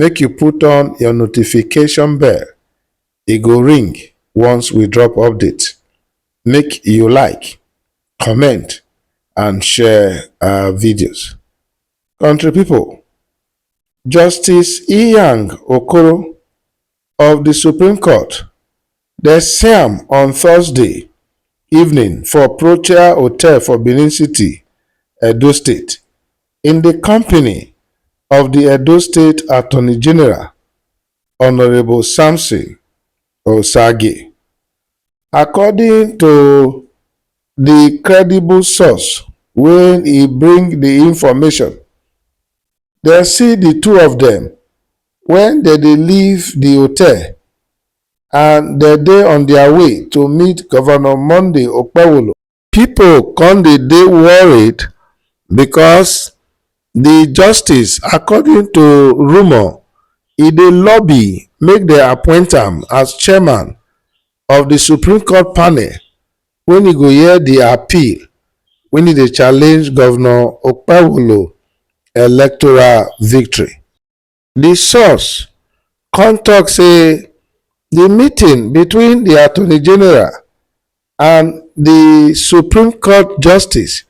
make you put on your notification bell e go ring once we drop update make you like comment and share our videos country people justice Iyang okoro of di Supreme Court, dem see am on Thursday evening for Protea Hotel for Benin City, Edo State, in di company of di Edo State Attorney General, Honourable Samson Orsaghi. According to di credible source wey e bring di information, dem see di two of dem wen dem dey leave di hotel and dem dey on dia way to meet Govnor Monday Okpewolo. Pipo kon dey dey worried bikos di justice, according to rumour, e dey lobby make dem appoint am as chairman of di Supreme Court panel wen e go hear di appeal wen e dey challenge Govnor Okpewolo electoral victory. Di source come tok say di meeting between di attorney general and di supreme court justice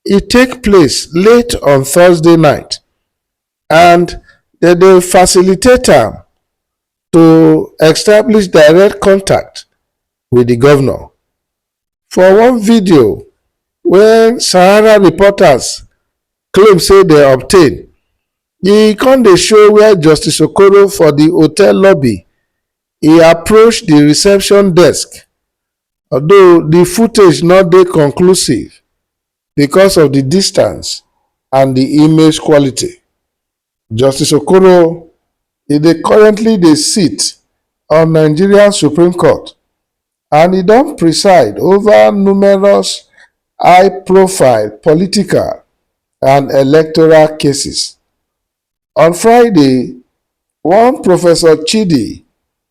e take place late on thursday night and dem dey facilitate am to establish direct contact wit di govnor. For one video wey sahara reporters claim say dem obtain, E come dey show where Justice Okoro for di hotel lobby, e approach di reception desk, although di footage no dey conclusive because of di distance and di image quality. Justice Okoro e dey currently dey sit on Nigeria Supreme Court and e don preside ova numerous high-profile political and electoral cases. On Friday, one Professor Chidi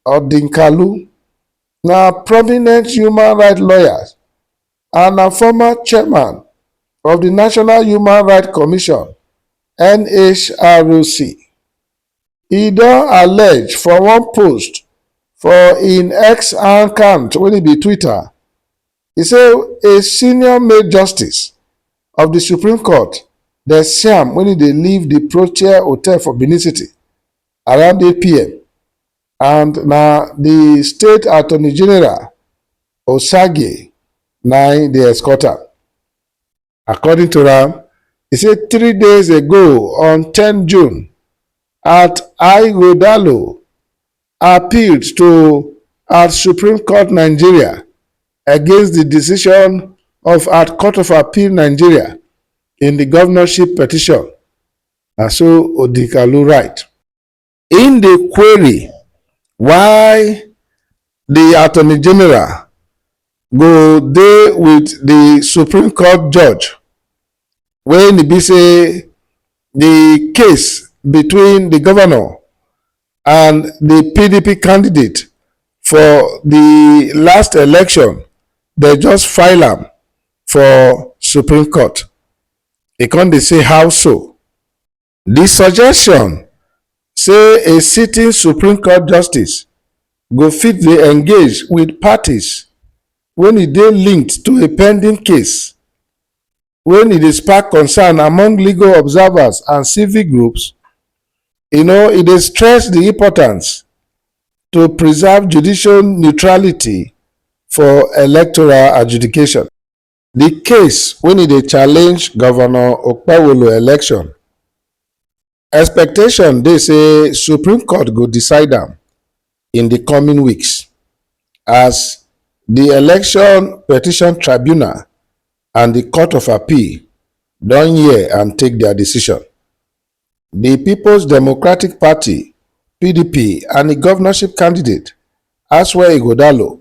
Odinkalu, na prominent human rights lawyer and na former chairman of di National Human Rights Commission, NHRC, e don allege for one post for im x account wey be twitter say a senior male justice of di supreme court desyam wey dey live di protea hotel for benin city around eight pm and na di state attorney general osagie na im dey escort am. According to am, e say three days ago on ten June, at Ighodalo appealed to at Supreme Court Nigeria against di decision of at Court of Appeal Nigeria in di governorship petition, na so Odinkalu write. im dey query why di attorney general go dey wit di supreme court judge wen e be say di case between di governor and di pdp candidate for di last election dem just file am for supreme court e come dey say how so Di suggestion say a sitting Supreme Court justice go fit dey engage wit parties wen e dey linked to a pending case wen e dey spark concern among legal observers and civic groups, you know, e dey stress di importance to preserve judicial neutrality for electoral adjudication. Di case wen e dey challenge Govnor Okpewolo election, expectation dey say Supreme Court go decide am in di coming weeks as di Election Petition Tribunal and di Court of Appeal don hear and take dia decision. Di Peoples Democratic Party, pdp, and e govnorship candidate, Asue Ighodalo,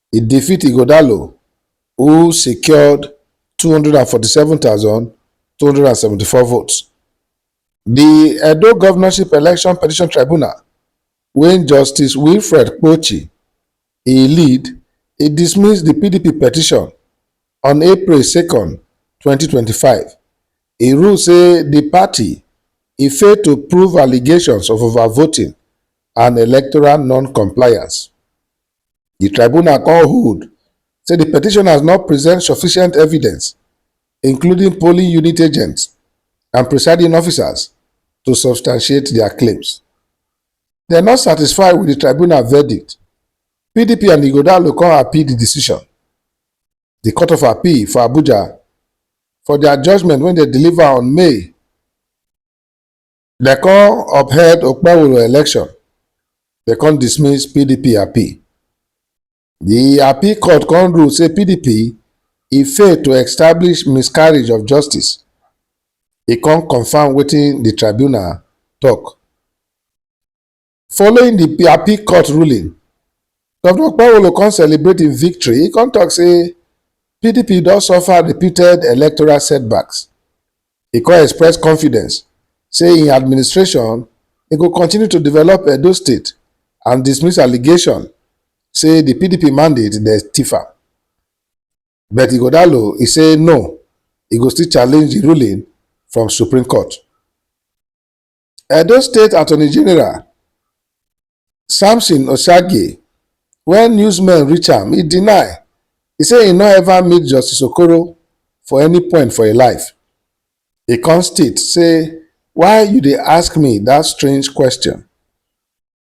e defeat Ighodalo who secured 247,274 votes. The Edo Governorship Election Petition Tribunal, when Justice Wilfred Kpochi e lead, e dismiss the PDP petition on April 2nd, 2025. E rule say the party e fail to prove allegations of overvoting and electoral non-compliance. Di tribunal kon hold say di petitioners no present sufficient evidence, including polling unit agents and presiding officers, to substantiate dia claims. Dem no satisfy wit di tribunal verdict, PDP and Ighodalo kon appeal di decision. Di Court of Appeal for Abuja, for dia judgement wey dem deliver on May, They come upheld Okpewolo election. They come dismiss PDP appeal. The appeal court come rule say PDP e fail to establish miscarriage of justice. E come confirm wetin the tribunal talk. Following di appeal court ruling, Govnor Okpewolo come celebrate im victory, e come tok say pdp don suffer repeated electoral setbacks. E come express confidence say im administration e go continue to develop Edo State and dismiss allegation say di pdp mandate dey tiff am. But Ighodalo e say no, e go still challenge di ruling from Supreme Court. Edo State Attorney General Samson Oshagi, when newsmen reach am, he deny. He say he no ever meet Justice Okoro for any point for im life. He come state say, why you dey ask me that strange question?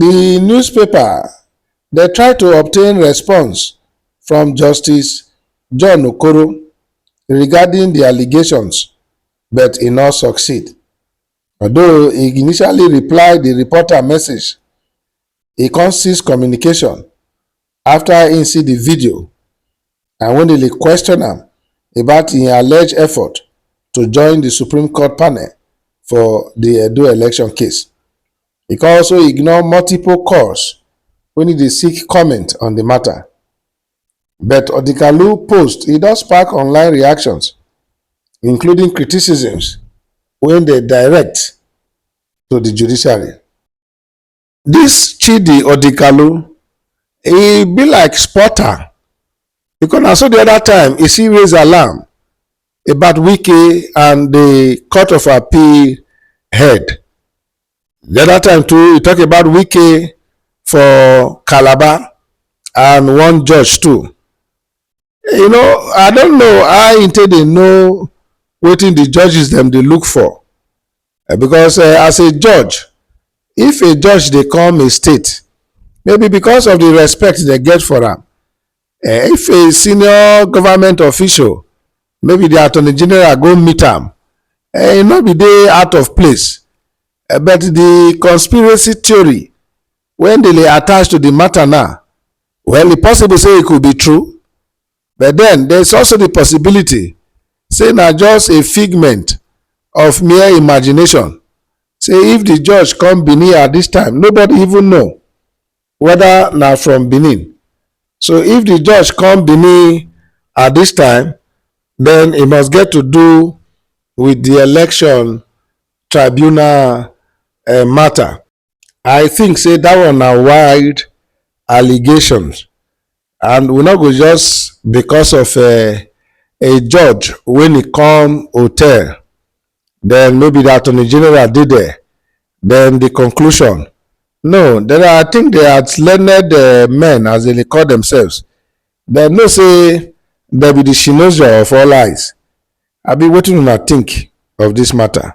di newspaper dey try to obtain response from justice john okoro regarding di allegations but e no succeed although e initially reply di reporter message e come cease communication after im see di video and wen dem dey question am about im alleged effort to join di Supreme Court panel for di Edo election case. E come also ignore multiple calls wen e dey seek comment on di matter. But Odikalu post e don spark online reactions including criticisms wey dey direct to di judiciary. This Chidi Odikalu, he be like spotter because na so the other time he see raise alarm about Wike and the court of appeal head. The other time too, he talk about Wike for Calabar and one judge too. you know i don't know how im take dey know wetin the judges dem dey look for Eh, because eh, as a judge if a judge dey come a state maybe because of the respect they get for am eh, if a senior government official maybe the attorney general go meet am eh, e no be dey out of place Eh, but the conspiracy theory wey Ndele attach to di mata na, well e possible say e could be true but den there is also di possibility say na just a figment of mere imagination say if di judge come Benin at dis time nobody even know weda na from Benin so if di judge come Benin at dis time den e must get to do wit di election tribunal mata. I think say that one na wild allegations and we no go just because of uh, a judge when he come hotel then maybe the attorney general dey there then the conclusion no then I think they are learned uh, men as they dey call themselves dem know say dem be the shinozo of all eyes abi wetin una think of this matter.